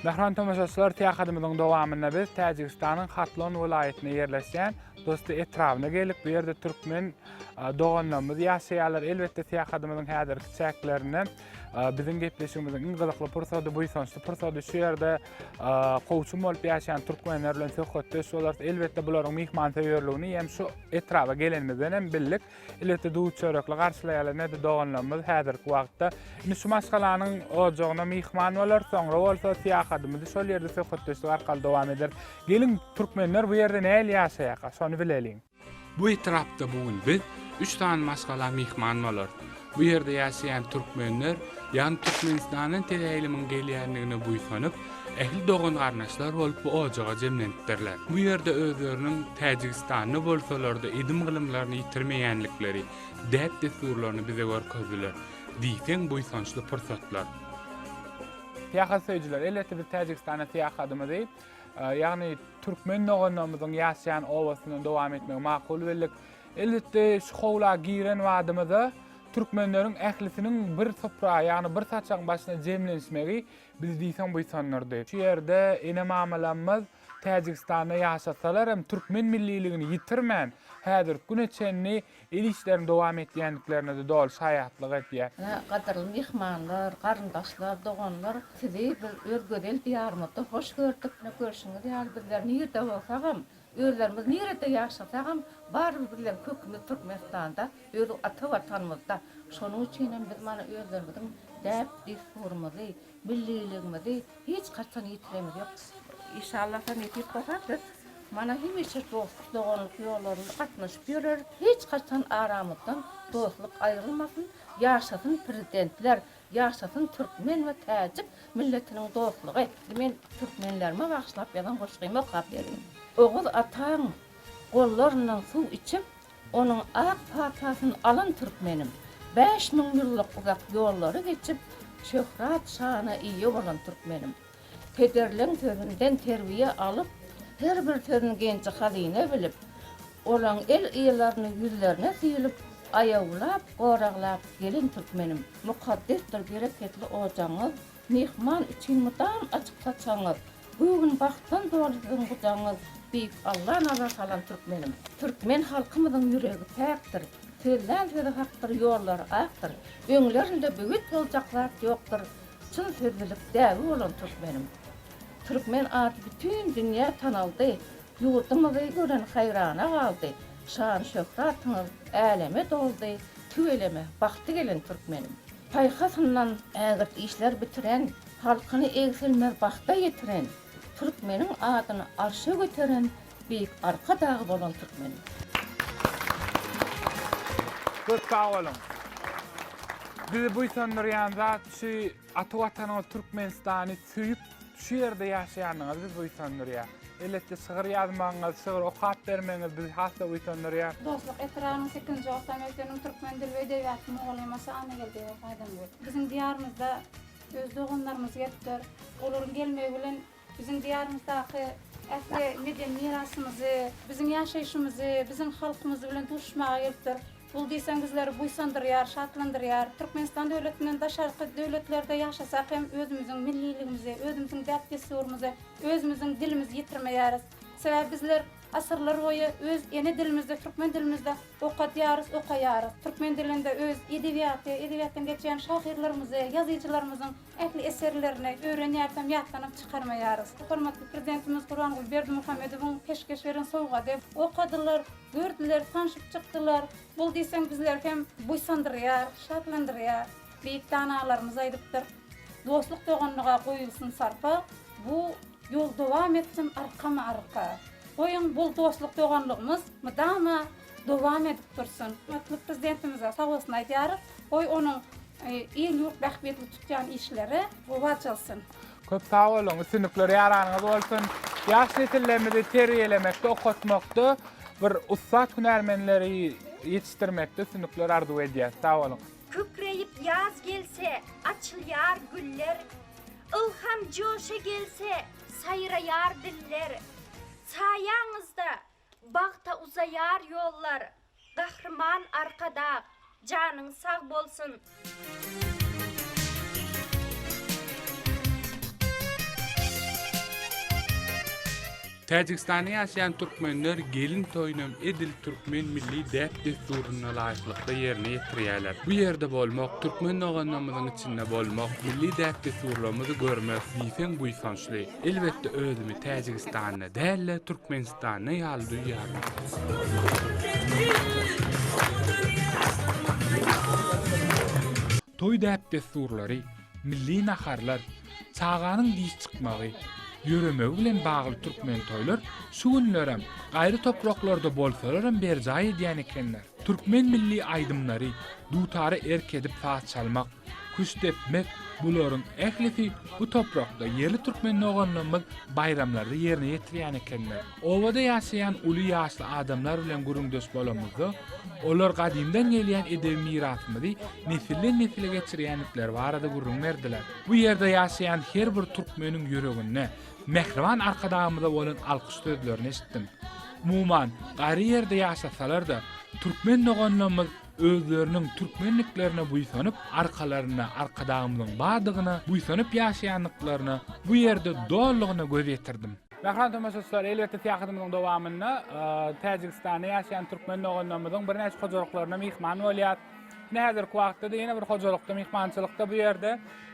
Mähriban tomaşaçylar, syýahadymyzyň dowamynda biz Täjigistanyň Hatlon welaýatynda ýerleşýän Dosti etrabyna geldik. Bu ýerde türkmen doganlarymyz ýaşaýarlar. Elbetde, syýahadymyzyň häzirki çäklerinde biziň gepleşigimiziň iň gyzykly pursady, buýsançly pursady şu ýerde kowçum bolup ýaşaýan türkmenler bilen söhbetdeş bolarys. Elbetde bularyň myhmansöýerligini hem şu etraba gelenimizden hem bildik. Elbetde duz çörekli garşylaýarlar näde doganlarymyz häzirki wagtda. Indi şu maşgalanyň ojagyna myhman bolarys, soňra bolsa syýahatymyzy şol ýerde söhbetdeşlik arkaly dowam ederis. Geliň, türkmenler bu ýerde nähili ýaşaýarka, şony bileliň. Bu etrapda bu gün biz üç sany maşgala myhman bolar. Bu ýerde ýaşaýan türkmenler ýagny Türkmenistandan teleýlymyň gelýändigine buýsanyp, ähli dogan-garyndaşlar bolup bu ojaga jemlenipdirler. Bu ýerde özleriniň Täjigistanda bolsalar-da edim-gylymlaryny ýitirmeýänlikleri, däp-dessurlaryny bize görkezdiler. Diýseň buýsançly pursatlar. Syýahat söýüjiler, elbetde biz Täjigistana syýahadymyzy Ýagny türkmen doganlarymyzyň ýaşaýan obasyndan dowam etmegi makul bildik. Elbetde şu howla giren badymyza türkmenleriň ählisiniň bir supra, ýagny bir saçagyň başyna jemlenişmegi bizi diýseň buýsandyrdy. Şu ýerde ene-mamalarymyz Täjigistanda ýaşasalar hem türkmen milliligini ýitirmän, häzirki güne çenli Ev işlerini dowam etýändiklerine-de doly şaýatlyk edýär. Ine, gadyrly myhmanlar, garyndaşlar, doganlar, sizi biz öz gözel Diýarymyzda hoş gördük. Ine, görşüňiz ýaly, bizler nirede bolsagam, özlerimiz nirede ýaşasagam, barybir bizleň kökümiz Türkmenistanda, öz ata Watanymyzda. Şonuň üçinem biz mana özlerimiziň däp-dessurymyzy, Milliligimizi hiç haçan ýitiremiz ýok. Işallasa nesip bolsa biz mana hemişe dostluk doganlyk ýollarynda gatnaşyp ýöreris hiç haçan aramyzdan dostluk aýrylmasyn ýaşasyn prezidentler ýaşasyn türkmen we täjik milletiniň dostlugy. Indi men türkmenlerime bagyşlap ýazan goşgymy okap berýin. Oguz ataň gollaryndan suw içip. Onuň ak patasyn alan türkmenim, bäş müň ýyllyk uzak ýollary geçip, şöhrat-şana eýe bolan türkmenim. Pederleň sözünden terbiýe alyp, her bir sözün genji-hazyna bilip, olaň el-ýylaryny ýüzlerine süýlüp, aýawlap, goraglap gelen türkmenim. Mukaddesdir bereketli ojagyňyz, Myhman üçin mydam açyk saçagyňyz, Göwün bagtdan doly siziň gujagyňyz, Beýik Alla nazar salan türkmenim. Türkmen halkymyzyň ýüregi päkdir, Sözlän sözi hakdyr, ýollary akdyr, Öňlerinde böwet boljak zat ýokdur, Çyn sözlülik däbi bolan türkmenim. Türkmen ady bütin dünýä tanaldy, Ýurdumyzy gören haýrana galdy, Şan-şöhratyňyz äleme doldy, Tüweleme, bagty gelen türkmenim. Paýhasyndan ägirt işler bitiren, Halkyny egsilmez bagta ýetiren, Türkmeniň adyny arşa göteren Beýik Arkadagy bolan türkmeniň. Köp sag boluň! Bizi buýsandyrýan zat şu ata Watanyňyz Türkmenistany Söýüp, şu ýerde ýaşaýanyňyz bizi buýsandyrýar. Elbetde, şygyr ýazmagyňyz, şygyr okap bermegiňiz bizi has-da buýsandyrýar. Dostluk etrabynyň sekizinji orta mekdebiniň türkmen dili we edebiýaty mugallymy Şahannegeldiýewa Saýdamgül. Biziň diýarymyzda öz doganlarymyz gelipdir. Olaryň gelmegi bilen biziň diýarymyzdaky ähli medeni mirasymyzy, biziň ýaşaýşymyzy, biziň halkymyz bilen duşuşmaga gelipdir. Bul diýseň bizleri buýsandyrýar, şatlandyrýar. Türkmenistan döwletinden daşarky döwletlerde ýaşasak hem özümiziň milliligimizi, özümiziň däp-dessurymyzy, özümiziň dilimizi ýitirmeýäris. Sebäbi bizler asyrlar boýy öz ene dilimizde, türkmen dilimizde okadýarys, okaýarys. Türkmen dilinde öz edebiýaty, edebiýatdan geçýän şahyrlarymyzy, ýazyjylarymyzyň ähli eserlerini öwrenýäris hem ýatlanyp çykarmaýarys. Hormatly Prezidentimiz Gurbanguly Berdimuhamedowyň peşgeş beren sowgady, okadylar. Gördüler, tanşyp çykdylar. Bul diýseň bizleri hem buýsandyrýar, şatlandyrýar. Beýik danalarymyz aýdypdyr, Dostluk-doganlyga goýulsyn sarpa, bu ýol dowam etsin arkama-arka. Goýuň, bul dostluk-doganlygymyz mydama dowam edip dursun. Hormatly Prezidentimize sag bolsun aýdýarys. Goý, onuň il-ýurt bähbitli tutýan işleri gowy açylsyn. Köp sag boluň, üstünlikler ýaranyňyz bolsun. Ýaş nesillerimizi terbiýelemekde, okatmakda bir ussat hünärmenleri ýetişdirmekde üstünlikler arzuw edýäs. Sag boluň. Kükreýip ýaz gelse, açylýar güller, Ylham joşa gelse, saýraýar diller. Saýaňyzda Bagta uzaýar ýollar Gahryman Arkadag janyň sag bolsun. Täjigistanda ýaşaýan türkmenler gelin toýunam edil türkmen milli däp-dessuryna laýyklykda ýerine ýetirýärler. Bu ýerde bolmak, türkmen doganlarymyzyň içinde bolmak, milli däp-dessurlarymyzy görmek diýseň buýsançly. Elbetde özümi Täjigistanly däl-de Türkmenistanly ýaly duýýaryn. Toý däp-dessurlary, milli naharlar, çaganyň diş çykmagy, ýöremegi bilen bagly türkmen toýlar şu günlerem, gaýry topraklarda bolsalaram berjaý edýän ekenler. Türkmen milli aýdymlary, dutara erk edip saz çalmak, küşt depmek, bularyň ählisi bu toprakda ýerli türkmen doganlarymyz baýramlarda ýerine ýetirýän ekenler. Obada ýaşaýan uly ýaşly adamlar bilen gürrüňdeş bolanymyzda, olar gadymdan gelýän edebi mirasymyzy nesilden-nesile geçirýändikleri barada gürrüň berdiler. Bu ýerde ýaşaýan her bir türkmeniň ýüreginde, Mähriban Arkadagymyza bolan alkyş sözlerini eşitdim. Umuman, gaýry ýerde ýaşasalar-da, türkmen doganlarymyz özleriniň türkmenliklerine buýsanyp, arkalarynda Arkadagymyzyň bardygyna buýsanyp ýaşaýandyklaryna bu ýerde dolugyna göz ýetirdim. Mähriban tomaşaçylar, elbetde, syýahatymyzyň dowamynda Täjigistanda ýaşaýan türkmen doganlarymyzyň birnäçe hojalyklaryna myhman bolýarys. Ine, häzirki wagtda-da ýene bir hojalykda myhmançylykda bu ýerde.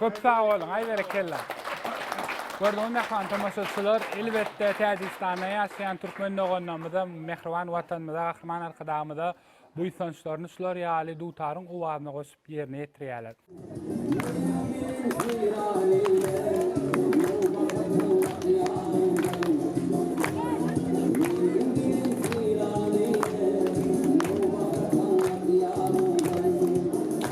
Köp sag boluň, aý berekella. Gördüňizmi mähriban tomaşaçylar, elbetde Täjigistanda ýaşaýan türkmen doganlarymyza, mähriban Watanymyza, Gahryman Arkadagymyza buýsançlaryny şular ýaly dutaryň owazyna goşup ýerine ýetirýärler.